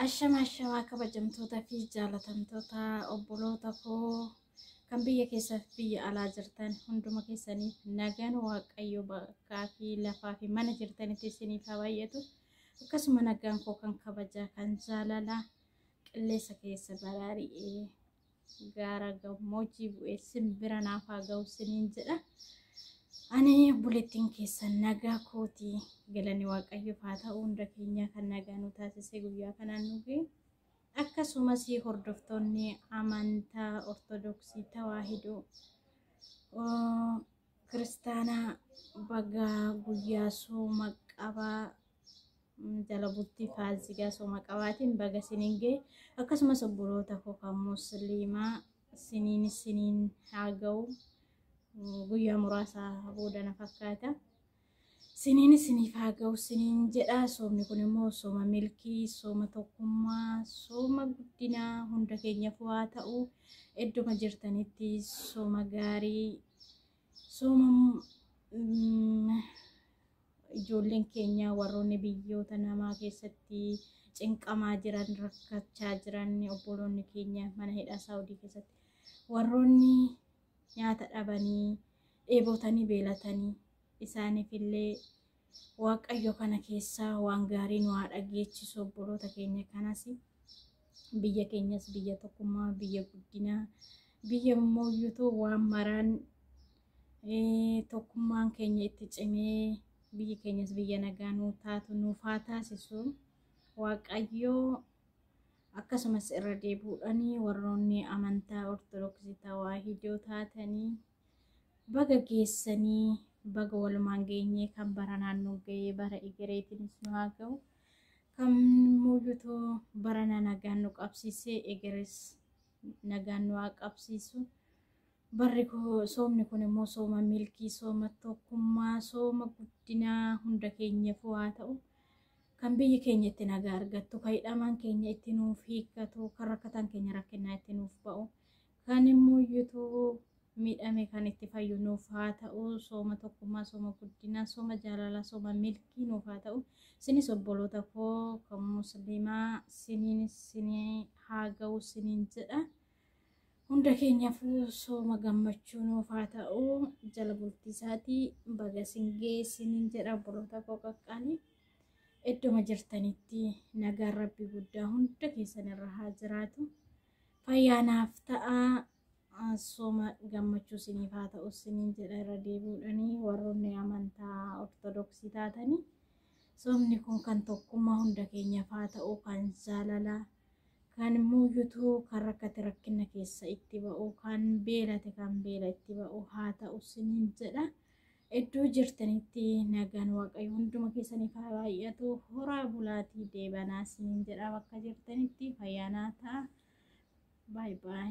Ashama ashamaa kabajamtoota fi jaalatamtoota obboloota koo kan biyya keessaa fi biyya alaa jirtan hunduma keessaniif nagaan waaqayyo bakkaa fi lafaa fi mana jirtanitti isiniif haa baay'atu. Akkasuma nagaan koo kan kabajaa kan jaalalaa qilleessa keessa baraari'ee gaara gammoojii bu'ee simbira naaf haa ga'u siniin jedha. Ani obboleettiin keessan nagaa kooti galanni waaqayyoof haa ta'u hunda keenyaa kan nagaa nu taasisee guyyaa kanaan nu ga'e. Akkasumas hordoftoonni amantaa Ortodoksii Tawaahidoo Kiristaanaa bagaa guyyaa sooma qabaa jala bultii faasigaa sooma qabaatiin baga siniin ga'e akkasumas obboloota koo kan musliimaa siniin siniin haa ga'u guyyaa muraasaa booda na fakkaata. Siniin isiniif haa ga'u siniin jedha. Soomni kun immoo sooma milkii, sooma tokkummaa, sooma guddinaa hunda keenyaaf waa ta'u idduma jirtanitti sooma gaarii, sooma ijoolleen keenya warroonni biyyoota namaa keessatti cinqamaa jiran, rakkachaa jiran, obboloonni keenya mana hidhaa Saawudii keessatti warroonni nyaata dhabanii dheebotanii beelatanii isaaniif illee waaqayyo kana keessaa waan gaarii nu haa dhageechisu obboloota keenya kanas biyya keenyas biyya tokkummaa biyya guddinaa biyya mooyyutu waan maraan eh, tokkummaan keenya itti cimee biyyi keenyas biyya nagaa nuu taatu nuuf haa taasisu waaqayyo Akkasumas irra deebuudhaan warroonni amantaa Ortodoksii Tawaahidoo taatanii baga geessanii baga walumaan geenyee kan bara naannoo ga'ee bara egereetiinis nu haa ga'u. Kan muuyutoo barana nagaan nu qabsiisee egeres nagaan nu haa qabsiisu. Barri koo- soomni kun immoo sooma milkii, sooma tokkummaa, sooma guddinaa hunda keenyaaf haa ta'u. Kan biyyi keenya itti nagaa argattu, kan hidhamaan keenya itti nuuf hiikkatu, kan rakkataan keenya rakkinnaa itti nuuf ba'u, kan immoo iyyutuu miidhame kan itti fayyu nuuf haa ta'u, sooma tokkummaa, sooma guddinaa, sooma jaalalaa, sooma milkii nuuf haa ta'u. Sinis obboloota koo kan musliimaa siniin sinii haa ga'u siniin jedha. Hunda keenyaafuu sooma gammachuu nuuf haa ta'u. Jala bultii isaatii baga sin ga'e siniin jedha obboloota koo qaqqaalii. Iddoma jirtanitti nagaan rabbi guddaa hunda keessan irra haa jiraatu. Fayyaa naaf ta'a. Sooma gammachuu isiniif haa ta'u isiniin jedha irra deebi'uudhanii warroonni amantaa ortodoksii taatanii. Soomni kun kan tokkummaa hunda keenyaaf haa ta'u kan jaalalaa. Kan immoo yutuu kan rakkate rakkina keessa itti ba'u kan beelate kan beela itti ba'u haa ta'u isiniin jedha. Iddoo jirtanitti nagaan waaqayyo hunduma keessaniif haa baay'atu horaa bulaatii deebanaa siin jedha bakka jirtanitti fayyaanaa ta'a. Baay baay.